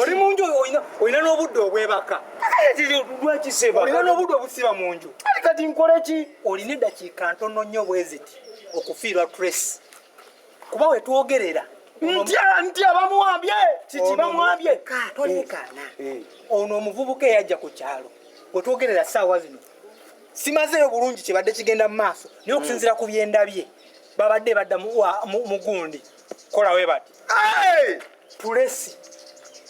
oli munju olina n'obudde obwebaka olina n'obudde obusiba mu nju kati nkoleki olina eddakiika ntono nnyo bweziti okufiirwa trace kuba wetwogerera ntya ntya bamwambye kiki bamwambye tolekaana eh, eh. ono omuvubuka eyajja ku kyalo wetwogerera saawa zino simazeeyo bulungi kyebadde kigenda mu maaso naye okusinzira ku byendabye babadde badda mugundi kola webati tulesi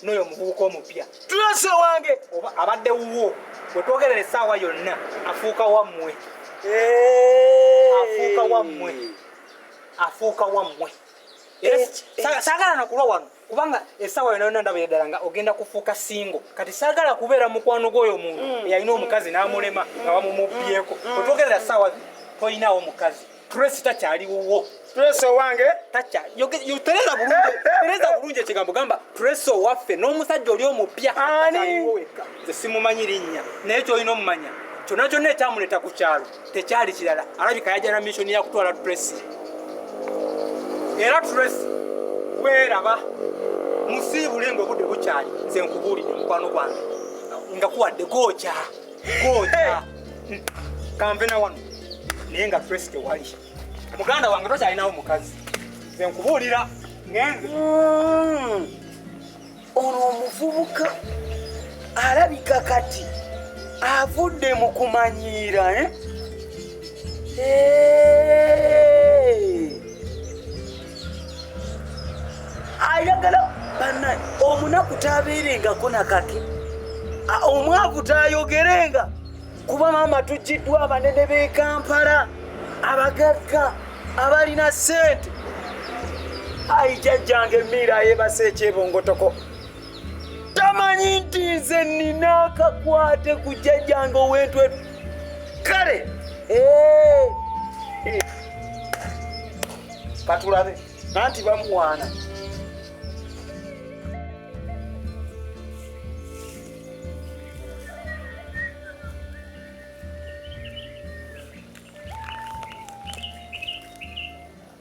noyo omuvubuka omupya tulesi owange oba abadde wuwo wetwogerera essaawa yonna afuuka wammwe afuuka wammwe afuuka wammwe eh, eh. sagala nakulwa wano kubanga essaawa yonna yonna ndabira ddala nga ogenda kufuuka singo kati sagala kubeera mukwano gwoyo omuntu mm. eyalina omukazi n'amulema nga bamumubyeko mm. wetwogerera essaawa toyinawo mukazi Tracy takyali wuwo. Tracy owange takya yotereza bulungi tereza bulungi ekigambo gamba Tracy owaffe n'omusajja oli omupya ani nze simumanyi linnya naye kyolina omumanya kyonna kyonna ekyamuleeta ku kyalo tekyali kirala alabika yajana missoni yakutwala Tracy era Tracy weeraba musiibule nga obudde bukyali nze nkubuulidde mukwano gwange nga kuwadde gookya Ngoja. Kambe na wano. Naye nga Tracy tewali. Muganda wange tokyalinawo mukazi. Nze nkubuulira ngenze. Mm. Ono omuvubuka alabika kati avudde mu kumanyiira eh? Hey. Eh. ayagala bana omunaku tabeerengako nakake omwavu tayogerenga kuba maama tujjiddwa abanene b'e kampala abagagga abalina sente ayi jajjange emiira yebasa ekyebongotoko tamanyi nti nze nina akakwate ku jajjange owentwetu kale eh. katulabe nanti bamuwaana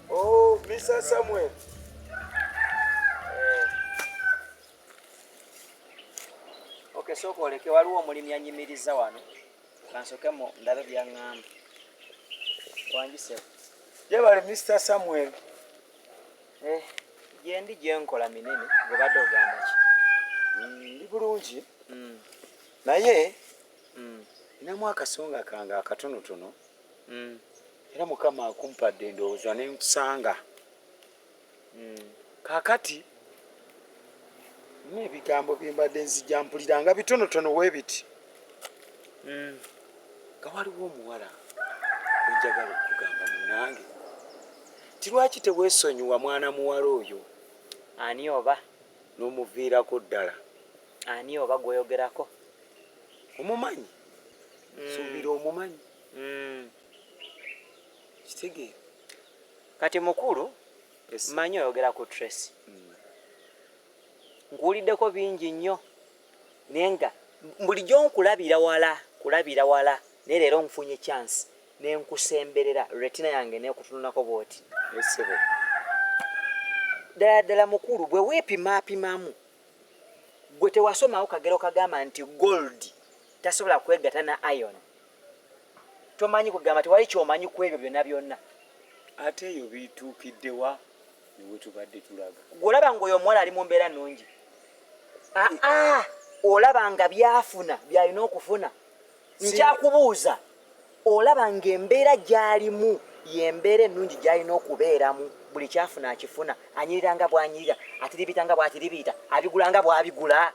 oh, Mr. Samuel sooka oleke waliwo omulimi anyimiriza wano kansokemu ndabe byaŋŋamba wanjiseko Jebale Mr. Samuel. Eh, gyendi gyenkola minene gwebadde ogamba ki? Mm, ndi bulungi mm. naye mm. namu akasonga kange akatonotono era mukama akumpadde endowooza nenkusanga mm. kakati nebigambo byembadde nzija mpulira nga bitonotono webiti mm. nga waliwo omuwala enjagala okugamba munange ti lwaki tewesonyiwa mwana muwala oyo ani oba nomuviirako ddala ani oba gweyogerako omumanyi mm. suubira omumanyi mm. kitegeera Kati mukulu manyi oyogera ku Tracy mm. nkuwuliddeko bingi nnyo naye nga bulijjo nkulabira wala kulabira wala naye leero nfunye chance nenkusemberera retina yange nekutunulako bwoti esibo ddala ddala mukulu bwe weepimapimamu gwe tewasomawo kagero kagamba nti gold tasobola kwegata na ion tomanyi kugamba tewali kyomanyi ku ebyo byonna byonna ate eyo bituukiddewa newetubadde tulaga gweolaba nga oyo omuwala ali mu mbeera nungi aa ah, ah, olaba nga byafuna byalina okufuna nkyakubuuza olaba nga embeera gyalimu yembeera ennungi gyalina okubeeramu buli kyafuna akifuna anyirira nga bwanyirira atiribita nga bwatiribiita abigula nga bwabigula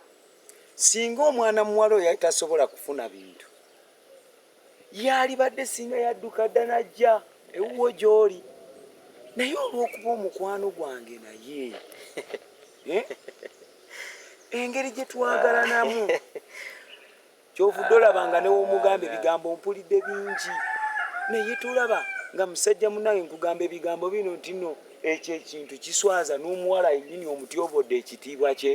Singa omwana muwala oyo yali tasobola kufuna bintu, yaalibadde singa yadduka dda n'ajja ewuwo gy'oli, naye olw'okuba omukwano gwange naye eh, engeri gye twagalanamu kyovudde olaba nga newomugamba ebigambo mpulidde bingi naye tolaba nga musajja munange nkugamba ebigambo bino ntino ekyo ekintu kiswaza n'omuwala yennyini omutyobodde ekitiibwa kye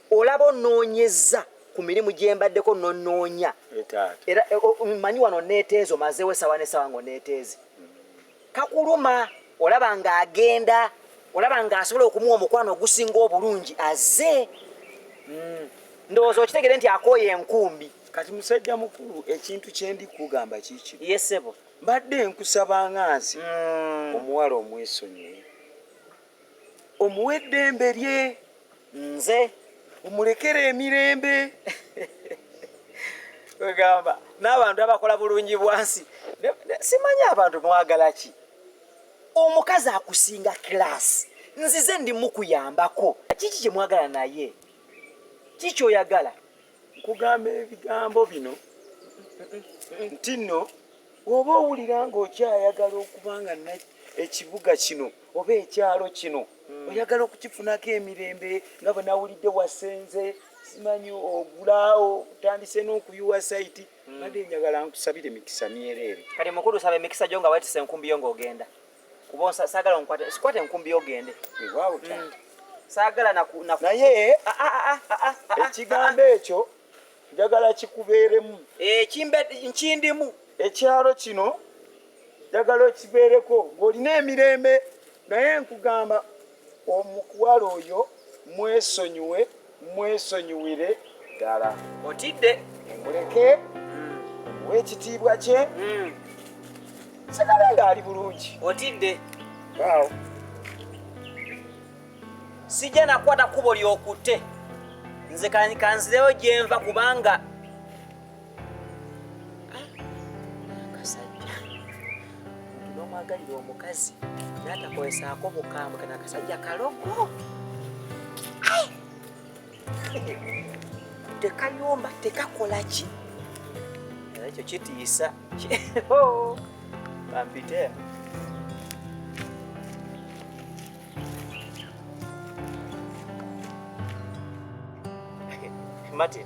olaba onoonyezza ku mirimu gye mbaddeko nonoonya era e, manyi wano neeteezo mazeewo esawa nesawa nga oneeteeze kakuluma olaba nga agenda olaba nga asobola okumuwa omukwano ogusinga obulungi aze mm. ndowooza okitegere nti akooye enkumbi kati musajja mukulu ekintu kyendi kugamba kiki yesebo mbadde nkusaba nga nsi mm. omuwala omwesonyiwe omuwa eddembe lye nze omulekera emirembe wegamba n'abantu abakola bulungi bwansi simanyi abantu mwagala ki omukazi akusinga kilaasi nzize ndi mukuyambako kiki kyemwagala naye kiki oyagala Nkugamba ebigambo bino nti nno bw'oba owulira ng'okyayagala okuba nga ekibuga kino oba ekyalo kino hmm. oyagala okukifunako emirembe nga bwe nawulidde wasenze simanyi ogulaawo otandise n'okuyiwa sayiti hmm. badde njagala nkusabire mikisa myereere kati mukulu saba emikisa gyo nga wetisa enkumbi yo ng'ogenda kuba sagala nkwata sikwata enkumbi ogende mm. sagala naye ah, ah, ah, ekigambo ekyo njagala kikubeeremu eh, nkindimu ekyalo kino njagala okibeereko ng'olina emirembe naye nkugamba Omukwala oyo mwesonyiwe mwesonyiwire ddala. Otidde? Muleke omuwa ekitiibwa kye. Nsigala ng'ali bulungi. Otidde? Waawo. Sijja nakwata kkubo ly'okutte. Nze kan- kanzireyo gye nva kubanga omwagalira omukazi natakozesaako bukambwe kana akasajja kalogo tekayomba tekakolaki era ekyo kitiisa oh, bampite Martin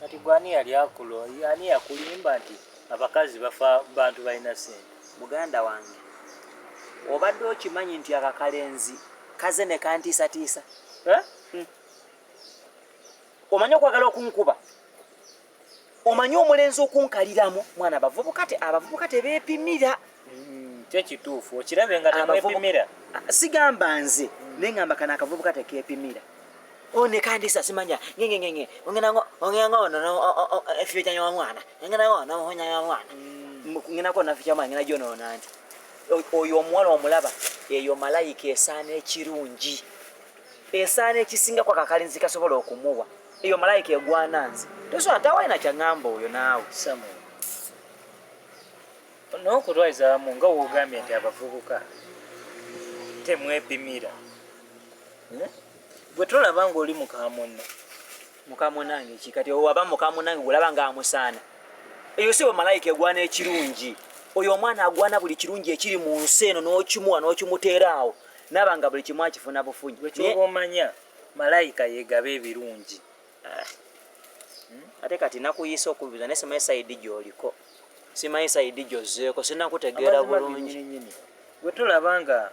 Kati gwe ani yali akulo ani yakulimba nti abakazi bafa bantu balina sente. Muganda wange obadde okimanyi nti akakalenzi kaze nekantiisatiisa eh? hmm. omanyi okwagala okunkuba omanyi omulenzi okunkaliramu mwana abavubuka te abavubuka tebeepimira Mm, kyo kituufu okirabe nga temwepimira sigamba nze mm. naye ngamba kana akavubuka tekepimira one kandi sa simanya ngenge ngenge ongena ngo ongena ngo no efyo kya nyawa mwana ongena ngo no honya nyawa mwana mm. ngena ko naficha mwana ngena jono nanti oyo omuwala omulaba eyo malayika esaana ekirungi esaana ekisinga kwa kakalinzi kasobola okumuwa eyo malayika egwana nze tosobola tawalina kyaŋŋamba oyo naawe N'okutwaliza amu nga w'ogambye nti abavubuka temwepimira hmm? gwe tolaba ng'oli mukamunne mukamunange ki kati owo aba mukamunange gwolaba nga amusaana eyo si bamalayika egwana ekirungi oyo omwana agwana buli kirungi ekiri mu nsi eno n'okimuwa n'okimuteera awo naaba nga buli kimu akifuna bufunyi ekyoba omanya malayika yegaba ebirungi Eh. Hmm? ate kati nakuyiisa okubibuza naye simanyi saidi gyoliko simanyi saidi gyozzeeko sinakutegeera bulungi gwe tulaba nga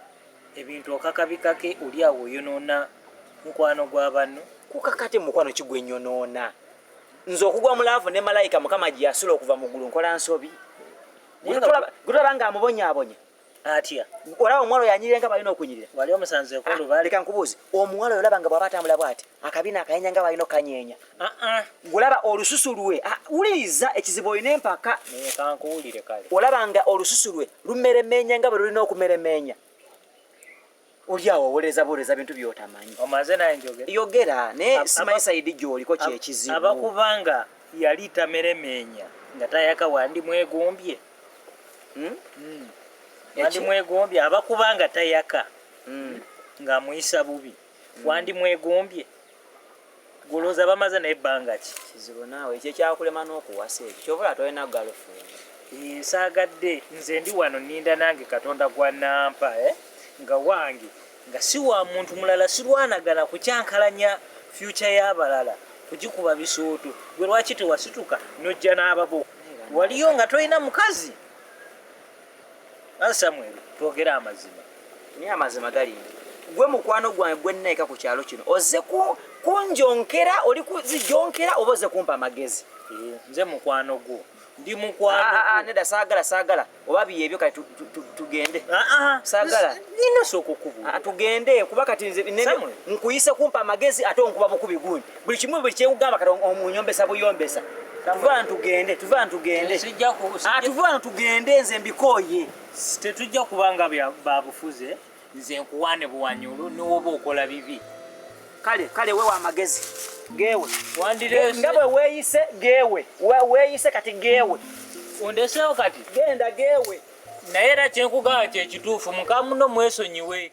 ebintu okakabikake oli awo oyonoona mukwano gwa banno kukakati mukwano kigwe nyonoona nze okugwa mu laavu ne malayika mukama gyeyasula okuva mu ggulu nkola nsobi gwe tulaba nga amubonyabonya atya olaba omuwala oyo anyirira nga balina okunyirira wali omusanze okulubale leka nkubuuze omuwala oyo olaba nga bwaba atambula bwati akabina akanyenya nga balina okanyeenya gulaba ah, ah. olususu lwe ah, wuliriza ekizibu olina empaka olaba nga olususu lwe lumeremeenya nga bwe lulina okumeremeenya oli awo owolereza buwolereza bintu byotamanyi omaze naye njogera yogera naye simanyi sayidi gyoliko kyekizibu abakubanga yali tameremeenya nga tayaka wandi mwegombye hmm? Hmm. wandi mwegombye abakubanga tayaka hmm. ng'amuyisa bubi wandi mwegombye Guloza bamaze naye banga ki? Kizibu naawe ekyo ekyakulema n'okuwasa ekyo kyova olaba tolina girlfriend. Eh, saagadde nze ndi wano ninda nange katonda gwa nampa eh? nga wange nga si wa muntu mulala sirwanagana kukyankalanya future y'abalala kugikuba bisooto gwe lwaki tewasituka nojja n'ababo waliyo nga tolina mukazi Nawe Samuel twogere amazima. Naye amazima gali nti gwe mukwano gwange gwe nnaika ku kyalo kino ozze kunjonkera oli kuzijonkera oba ozze kumpa amagezi eh, nze mukwano gwo ndi mukwano ah, ah, ah, nedda saagala saagala oba byebyo kati tugende saagala nina sooka okubula tugende kuba kati nze nkuyise kumpa amagezi ate onkuba bukubi gundi buli kimu buli kyekugamba kati omunyombesa buyombesa tuvana tugende tuvana tugende atuvana ah, tugende nze mbikooye tetujja kubanga babufuze nze nkuwane buwanyulu niwoba okola bibi kale kale wewe amagezi gewe nga bwe weeyise gewe weeyise kati gewe ondeseewo kati genda gewe naye era kyenkugamba kyekituufu mukamuno mwesonyiwe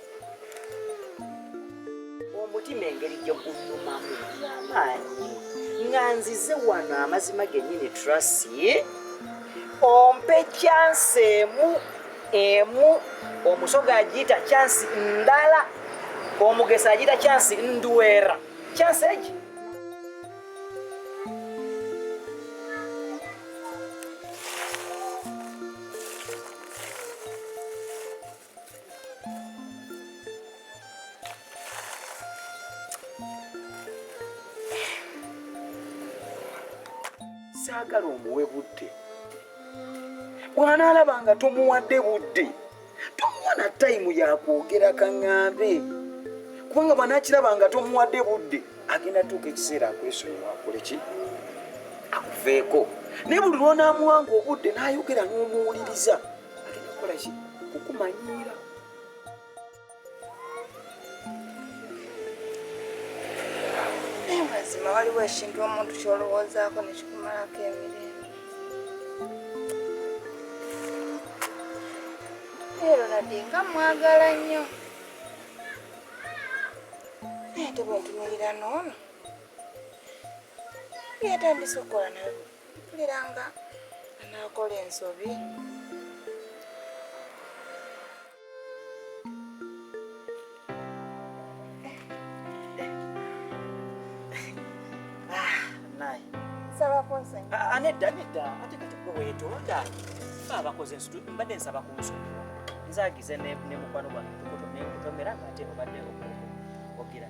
omutima engeri gye gunyumamu amaanyi nga nzize wano amazima gennyini trasi ompe kyansi emu emu omusoga agiyita kyansi ndala omugesa agiyita kyansi ndwera kyansi egi saagala omuwe budde bw'anaalaba nga tomuwadde budde tomuwa na tayimu yakwogera kaŋŋambe kubanga bw'anaakiraba nga tomuwadde budde agenda tuuka ekiseera akwesonyiwa akole ki akuveeko naye buli lw'onaamuwanga obudde n'ayogera n'omuwuliriza agenda kukola ki kukumanyiira naye mazima waliwo ekintu omuntu kyolowoozaako nekikumalako emirembe ero nadi nga mwagala nnyo naye tebwentumirira noono yatandise okukola nayo mpulira nga anaakola ensobi anedda ah, ah, nedda ate kati gwe weetonda fe abakoze ensutu mbadde nsaba ku nsutu nzagize ne mukwano gwange nkutomera nga ate obadde ogira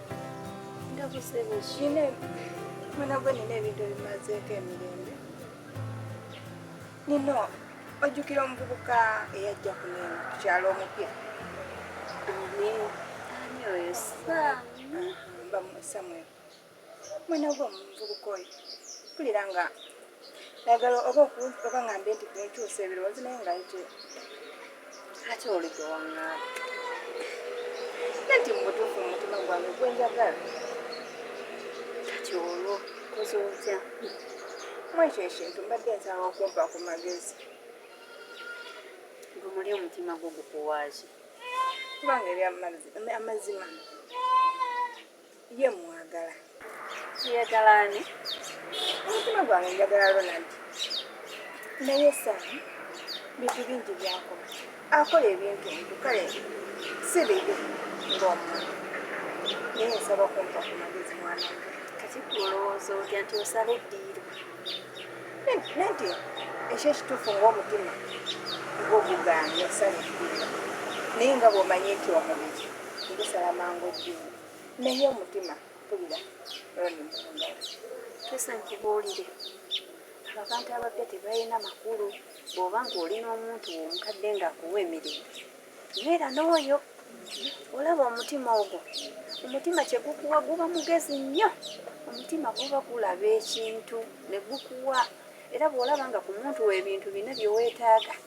Ndakusaba shine mwana gwe nina ebintu ebimazeeko emirembe nino ojjukira omuvubuka eyajja kuneno ku kyalo omupya ani oyo samuel mwana gwe omuvubuka oyo mpulira nga Nagala oba oba ngambe nti kunkyusa ebirowoozo naye nga ite ate oludde waŋŋaala nti mubutuufu mu mutima gwange gwe njagala kati olwo koze otya mwekyo ekintu mbadde nsaba okumpa ku magezi gumuli omutima gwo gukuwaaki kubanga ebyamazima Ye mwagala. Yagala ani? Omutima gwange njagala Ronald. Naye Sam bintu bingi byakola. Akola ebintu ebyo kale si bibi ng'omuntu. Naye nsaba kumpa ku magezi mwana wange. Kati ggwe olowooza otya nti osala eddiiro? Nanti ekyo ekituufu ng'omutima gw'ogugaanye osala eddiiro. Naye nga bw'omanyi nti omubiri gusala mangu eddiiro. Naye omutima mpulira Ronnie Mulunda. Kesa nkubuulire abantu abapya tebalina makulu bw'oba ng'oli n'omuntu omukadde ng'akuwa emirembe beera n'oyo olaba omutima ogwo omutima kye gukuwa guba mugezi nnyo omutima guba gulaba ekintu ne gukuwa era bw'olaba nga ku muntu w'ebintu bina bye weetaaga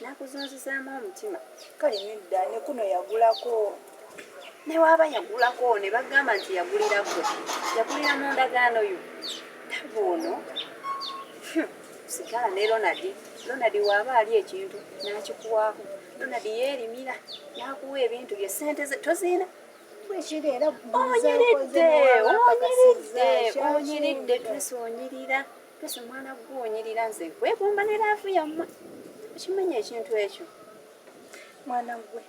nakuzunzizaamu omutima kale nedda nekuno yagulako newaaba yagulako nebagamba nti yagulirako yagulira mu ndagaano yo tabu ono hmm, sigala ne ronald ronald waaba ali ekintu nakikuwaako ronald yeerimira nakuwa ebintu bye sente ze toziina onyiridde onyiridde onyiridde twesi onyirira Pesa mwana gwe onyirira nze nkwegomba ne laavu yammwe okimanya ekintu ekyo mwana gwe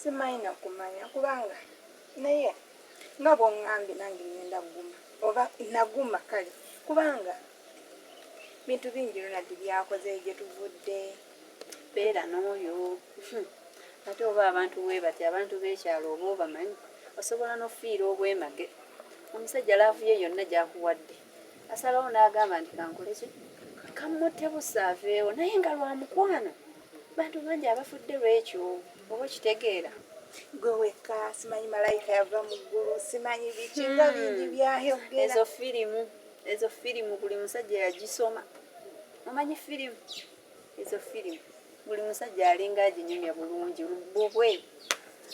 simayina kumanya kubanga naye nga bwongambye nange ngenda kuguma oba naguma kale kubanga bintu bingi ronald byakoze gye tuvudde beera n'oyo hmm. ate oba abantu webati abantu b'ekyalo oba obamanyi osobola n'okufiira obwemage omusajja laavu ye yonna gyakuwadde asalawo n'agamba nti kankoleki kamutte busa aveewo naye nga lwa mukwano bantu bangi abafudde lwekyo oba okitegeera gwe wekka simanyi malayika yava mu ggulu simanyi biki nga hmm. bingi byayogera ezo firimu ezo firimu buli musajja yagisoma omanyi firimu ezo firimu buli musajja alinga aginyumya bulungi bubwe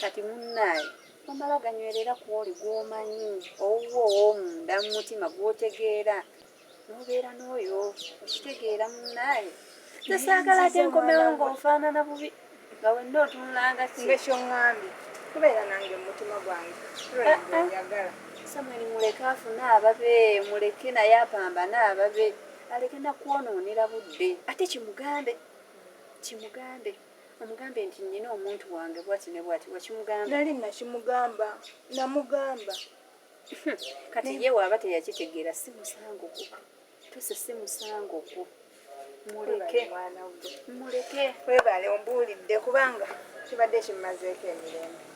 kati munnaayo Tomala ganywerera ku oli gw'omanyi owuwo ow'omunda mu mutima gw'otegeera n'obeera n'oyo okitegeera munnaye nze saagala ate nkomewo ng'onfaanana bubi nga wenna otunulanga kiekyongambye kubeera nange mumutima gwange ah, ah. samweli muleke afune ababe muleke naye apambane ababe aleke nakwonoonera budde ate kimugambe kimugambe Omugambe nti nnina omuntu wange bwati ne bwati wakimugamba? Nali nakimugamba namugamba. Kati ye waaba teyakitegeera si musango gwo. Tuse si musango gwo. Muleke. Muleke. Webale ombuulidde kubanga kibadde kimmazeeko emirembe.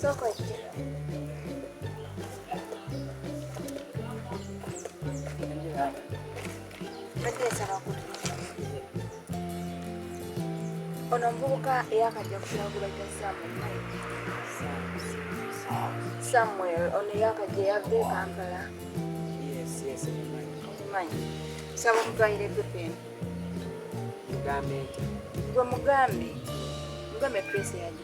Soko ejja. Ono omuvubuka eyakajja kukulagula gya Samuel ono eyakajja yava e Kampala omumanyi saba omutwalire gepeni gwe mugambe mugambe presi yaja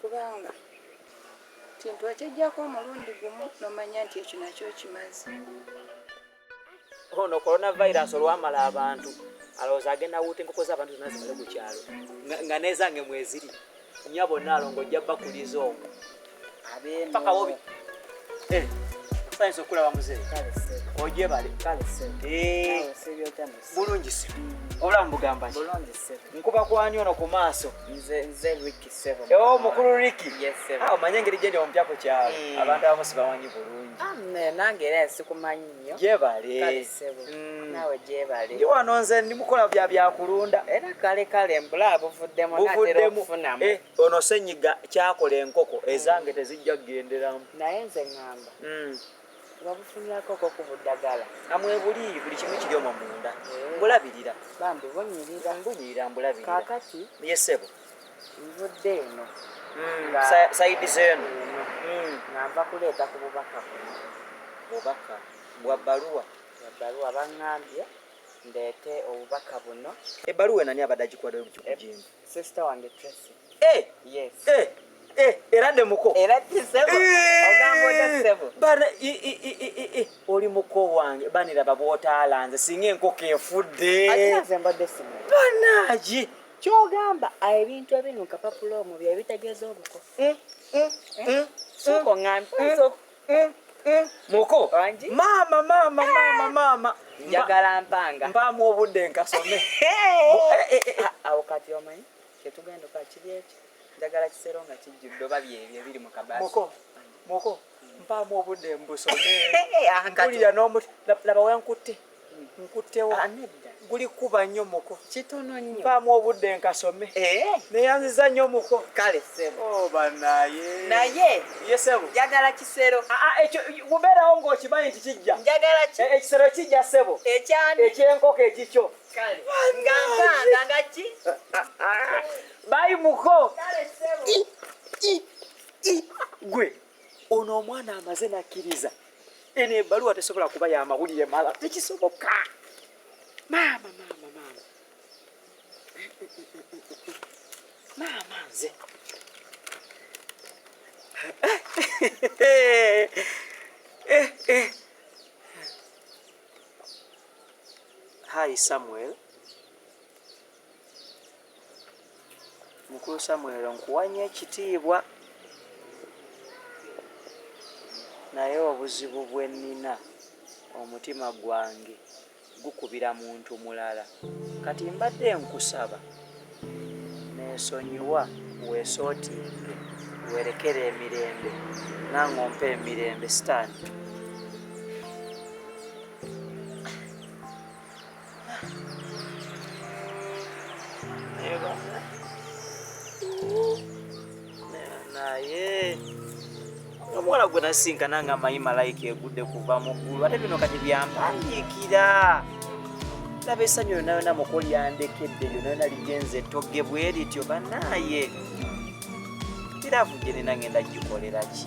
Kubanga kintu okijjako omulundi gumu nomanya nti ekyo nakyo okimaze. Ono coronavirus olwamala abantu alowooza agenda wuuta enkoko z'abantu zonna zimale ku kyalo nga nezange mweziri nyabo naalongo ojja bakuliza omu paka bobi eh, sayinza okulaba muzeeyi ojebale eh, bulungi si obulamu bugamba nkuba kwani ono ku maaso Oh, mukulu Ricky. Yes, sir. Ah, omanye ngeri gyendi omupya ku kyalo. Mm. Abantu abamu sibamanyi bulungi. Ah, nange era nsikumanyi nnyo. Gyebale. Kale sebo. Mm. Nawe gyebale. Ndi wano nze ndi mukola bya bya kulunda. Era kale kale mbula buvuddemu natera okufunamu. Eh, ono senyiga kyakola enkoko ezange mm. tezijja kugenderamu. Naye nze ngamba. Mm. wabufunirako ko ku buddagala amwebuli buli kimu kiri omwo munda eh. mbulabirira bambi bunyirira mbunyirira mbulabirira kakati yesebo Nvudde eno sayidi zeeno nga nva kuleeta ku bubaka buno bubaka bwa bbaluwa bwa bbaluwa baŋŋambye ndeete obubaka buno ebbaluwa enani abadde agikuwadde lukikujinga eh, sisita wange tracy eh! yes eh! Eh, era ne muko era kisebo eh, ogamba ode sebo bana i i i i i oli muko wange banira babwotaala nze singa enkoko efudde ajaze mbadde simo banaji kyogamba ebintu ebinuka papula omu byebitegeeza obuko eh, eh, eh, muko maama maama maama maama njagala mpanga mpaamu obudde nkasome awo kati omanyi kyetugenda okakiri ekyo njagala kisero nga kijjudde oba byebyo ebiri mu kabaasi muko muko mpaamu obudde mbusome ah, mpulira n'omuti laba wenkutte nkuttewo ah, guli kuba nnyo muko kitono nnyo mpaamu obudde nkasome eh? neyanziza nnyo muko kale sebo oh, banaye naye ye sebo njagala kisero ah, ekyo gubeerawo ng'okimanyi nti kijja njagala ki eh, ekisero kijja sebo ekyani ekyenkoko ekikyo kale nga mpanga nga ki bayi muko kale sebo gwe ono omwana amaze nakkiriza eno ebaluwa tesobola kuba ya mawulire mala tekisoboka maama maama maama maama nze eh, eh, eh. hi samuel mukulu samuel nkuwa nnyo ekitiibwa naye obuzibu bwe nnina omutima gwange gukubira muntu mulala kati mbadde nkusaba neesonyiwa weesootinge weerekere emirembe nange ompa emirembe sitaani omuwala gwe nasinkana nga amanyi malayika egudde kuva mu ggulu ate bino kati byampandiikira laba esanyu yona yona mukoli yandekedde yona yona ligenze ettogge bwe lityo banaaye iravu gye nina ngenda gikolera ki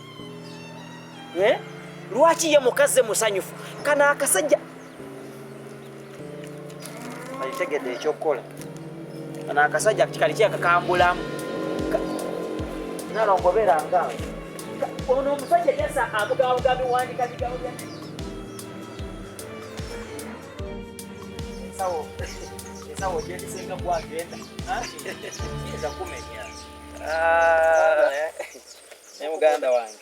eh? lwaki ye mukazi musanyufu kano akasajja alitegedde ekyokukola kano akasajja kali kyakakambulamu nalongobera nga ono omusajja yasa amugabuga biwandika bigabu bya ensawo ensawo gyendisenga kwagenda eza kumenya ah. Ne muganda wange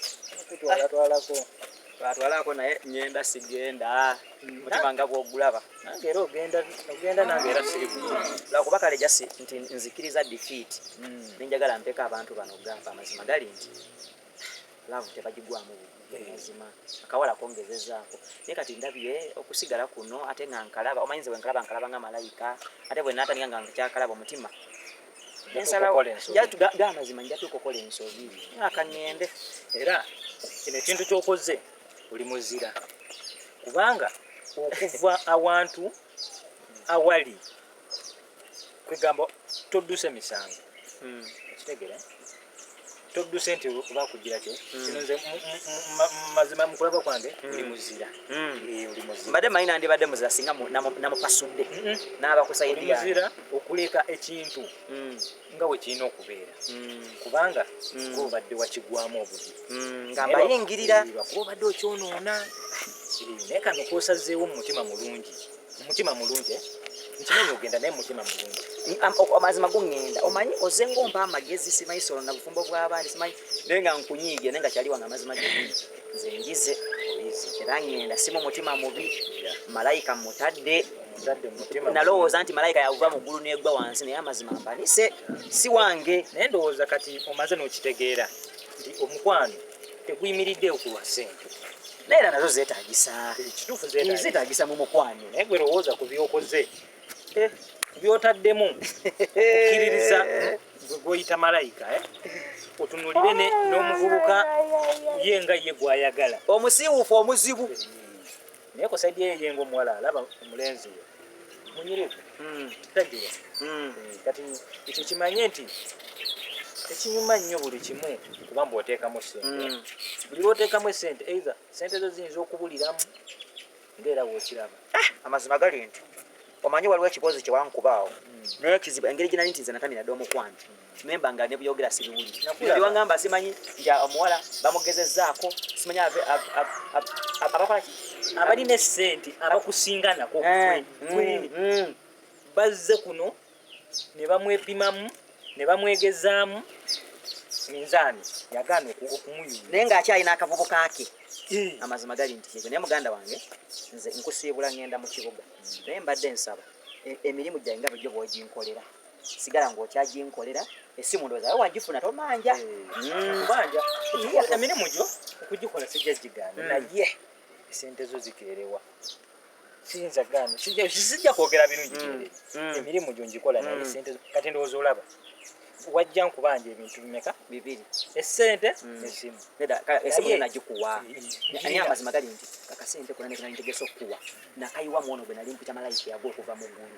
kutwala twalako twatwalako naye ngenda sigenda mm. mutima nga gwogulaba nange era ogenda ogenda nange era siri lwakuba kale jasi nti nzikiriza defeat mm. nenjagala mpeka abantu bano okugamba amazima gali nti laavu tebagigwamu mazima akawala kongezezaako naye kati ndabye okusigala kuno ate nga nkalaba omanyi nze bwenkalaba nkalaba nga malayika ate bwenatandika nga nkyakalaba omutima gamazima nja tukokola ensobi aka ŋŋende era kino ekintu kyokoze oli muzira kubanga okuva awantu awali kwegamba todduse misango hmm. kitegere todduse nti oba kugira ki hmm. kino nze mazima mukulaba kwange hmm. oli muzira hmm. eh, oli muzira mbadde manyi nandibadde muzira singa namupasudde naaba kusayidi yange muzira okuleka ekintu nga we kirina okubeera kubanga kuba obadde wakigwamu obugi nga mbayingirira eh, kuba obadde okyonoona eh, naye kano kosazeewo mu mutima mulungi mutima mulungi eh? nkimanyi ogenda naye mutima mulungi amazima gungenda omanyi oze ngompa amagezi simanyi solo na bufumbo bw'abaana simanyi naye nga nkunyiige naye nga kyali wange amazima genyi nze njize era ngenda simu mutima mubi malayika mutadde nalowooza nti malayika yakuva mu ggulu negwa wansi naye amazima mpanise si wange naye ndowooza kati omaze n'okitegeera nti omukwano tekuyimiridde okulwa ssente naera nazo zetagisa zetagisa mu mukwano naye gwe lowooza ku byokoze eh, byotaddemu okukiririza gwe gwoyita malayika eh? otunulire n'omuvubuka ye nga ye gwayagala omusiiwuufu omuzibu naye ku saidi eyo yenga omuwala alaba omulenzi we munyirivu hmm. kitagiwa hmm. eh, kati ekyo kimanye nti tekinyuma nnyo buli kimu kuba mbu oteekamu sente hmm. buli lwoteekamu esente eitha sente zo ziyinza okubuliramu ngaera wokiraba ah, amazima gali nti omanyi waliwo ekiboozi kyewankubaawo naye kizibu engeri gyenali nti nze natamira dde omukwano memba nga ne byogera sibiwuli ndio wangamba simanyi nti omuwala bamugezezaako simanyi ave abakola ki abali ne sente abakusinga nako eh, mm, mm. bazze kuno ne bamwepimamu ne bamwegezaamu minzaani yagaana okumuyuya naye ng'akyalina akavubu kaake eh. amazima gali nti ekyo naye muganda wange nze nkusiibula ngenda mu kibuga naye mbadde nsaba e, emirimu gyange nga bajjo bwoginkolera sigala ng'okyaginkolera essimu ndowooza we wagifuna tomanja kubanja hmm. emirimu gyo okugikola sijja gigaana hmm. naye esente zo zikeerewa siyinza gaana sijja kwogera birungi hmm. emirimu gyo ngikola naye esente zo kati ndowooza olaba wajja nkubanja ebintu bimeka bibiri esente nesimu esimu nagikuwa naye amazima gali nti kakasente kona nekanantegesa okukuwa nakayiwa mwono gwe nali mpita malayika yago okuva mu ggulu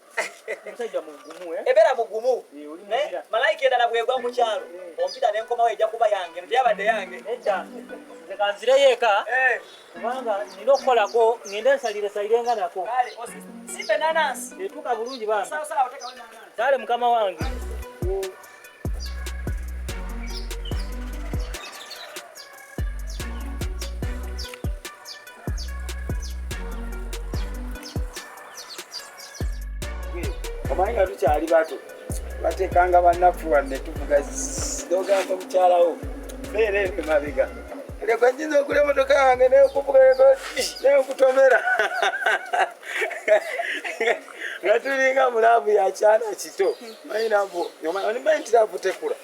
musajja mugumu eh? ebera mugumu eh, malayika endala bwegwa mu kyalo eh. ompita nenkomawo ejja kuba yange ntyabadde yange kanzireyo eka kubanga nina okukolako ngende nsalire salirenga nako etuuka bulungi bambi kale mukama wange omanyi nga tukyali bato batekanga banaffe wanne tuvuga nogamba mukyalawo beera eno emabega leka nyinza okula emotoka yange neyokuvuga neyokutomera nga tulinga mu laavu ya kyana kito manyi laavu omanyi nti laavu tekula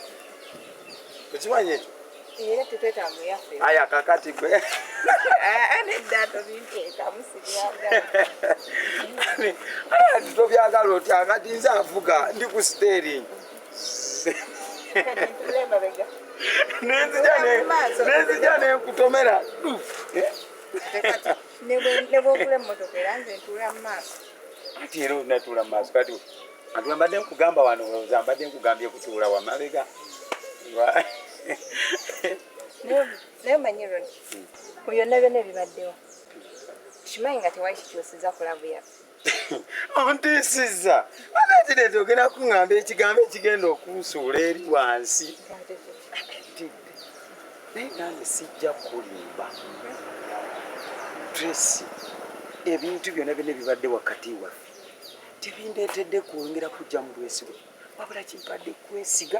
okimanyi ekyo aya kakati gwe ati tobyagala oti akati nze avuga ndi ku stering nenzija nenkutomera nebwogula emmotoka era nze ntuula mu maaso nti era onatuula mu maaso kati ntuula mbadde nkugamba wano oza mbadde nkugambye kutuula wamabega naye omanyi ron mu byonna byonna ebibaddewo kimanyi nga tewali kikyusiza kulabu yaffe ontiisizza anatireeta ogenda kuŋŋamba ekigambo ekigenda okunsuula eri wansi naye nange sijja kulimba tracy ebintu byonna byonna bibadde wakati waffe tebindeetedde kwongera kujja mu bwesigwa wabula kimpadde kwesiga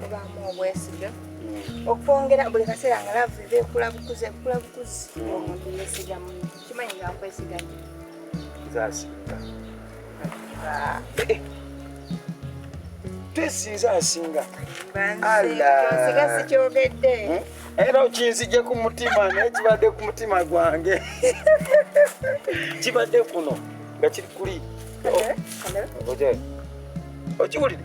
mubaamu obwesige mm. okwongera buli kaseera nga laavu eba ekula bukuzi ekula bukuzi mm. omuntu yesigamu kimanyi nga nkwesiganyo zasinga tesinza asinga nsiga sikyogedde hmm? era okinzije ku mutima naye kibadde ku mutima gwange kibadde kuno nga kiri kuli okiwulire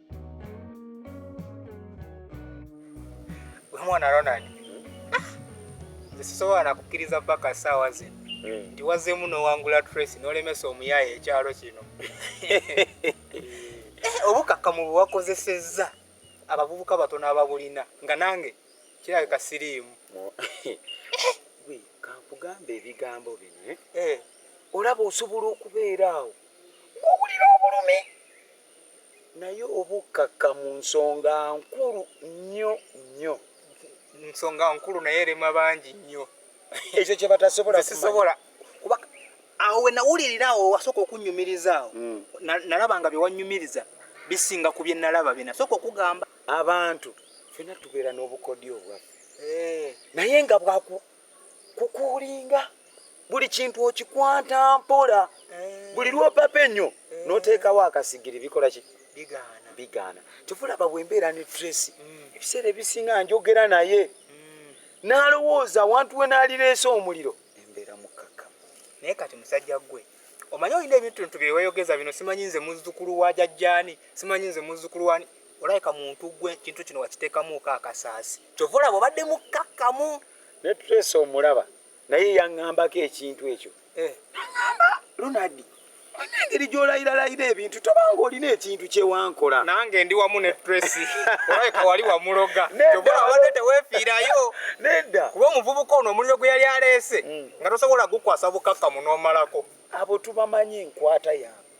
Mwana Ronald, ah! nze sisobola nakukkiriza mpaka saawa zino hmm. nti wazeemu n'owangula Tracy n'olemesa omuyaaye ekyalo kino eh, obukakkamu bwe wakozesezza abavubuka batono ababulina nga nange kirabika siriimu kankugamba ebigambo bino eh? Eh. olaba osobola okubeera awo ng'owulira obulumi naye obukkakka mu nsonga nkulu nnyo nnyo. Nsonga nkulu naye erema bangi nnyo. Ekyo kye batasobola kumanya. Nze sisobola kuba awo we nawulirira awo wasooka okunnyumiriza awo hmm. nalaba nga bye wannyumiriza bisinga ku bye nalaba bye nasooka okugamba. Abantu ffena tubeera n'obukodyo obwaffe eh. naye nga bwaku kukuulinga buli kintu okikwata mpola eh. buli lwopapa ennyo eh. noteekawo akasigiri bikola ki bigaana kyofulaba bwembeera ne tracy mm. ebiseera ebisinga njogera naye mm. nalowooza awantu we nalireese omuliro embeera mukkakka naye kati musajja gwe omanyi olina ebintu ntu byeweyogeza bino simanyi nze muzzukulu wa jajjaani simanyi nze muzzukulu wani olabika muntu gwe kintu kino wakiteekamuuko akasaasi kyova olaba obadde mukkakkamu ne trace omulaba naye yaŋŋambako ekintu ekyo eh. naŋamba lunadi engeri gyolairalayira ebintu tobanga olina ekintu kyewankola nange ndi wamu ne tracy olabika wali wamuloga obadde tewefiirayo nedda kuba omuvubuka ono omuliro gwe yali aleese mm. nga tosobola gukwasa bukakkamu n'omalako abo tubamanyi enkwata yange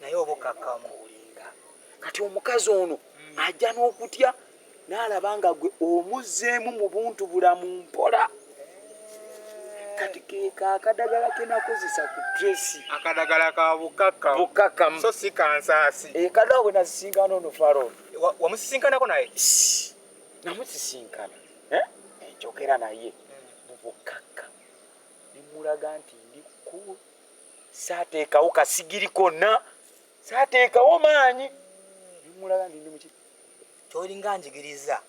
naye obukakkamu olinga kati omukazi ono hmm. ajja n'okutya n'alaba nga gwe omuzzeemu mu buntu bulamu mpola kati keka akadagala kenakozesa ku tresi akadagala ka bukakamu bukakamu so si kansaasi ekadala eh, bwe nasisinkana ono faron wamusisinkanako naye namusisinkana eh? enjogera naye hmm. mu bukakamu nemulaga nti ndi kulu saateekawo kasigiri konna saateekawo maanyi nemulaga ndi ndi muki kyolinga njigiriza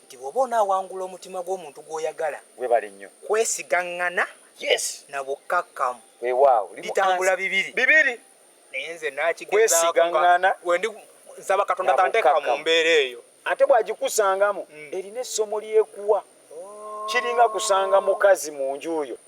nti bw'oba onaawangula omutima gw'omuntu gw'oyagala webale nnyo kwesigaŋŋana yes na bukkakkamu weewaawo bitambula bibiri bibiri naye nze nakigezakwesigaŋŋana wendi nsaba katonda tanteeka mu mbeera eyo ate bw'agikusangamu mm. erina essomo lyekuwa oh. kiringa kusanga mukazi mu nju yo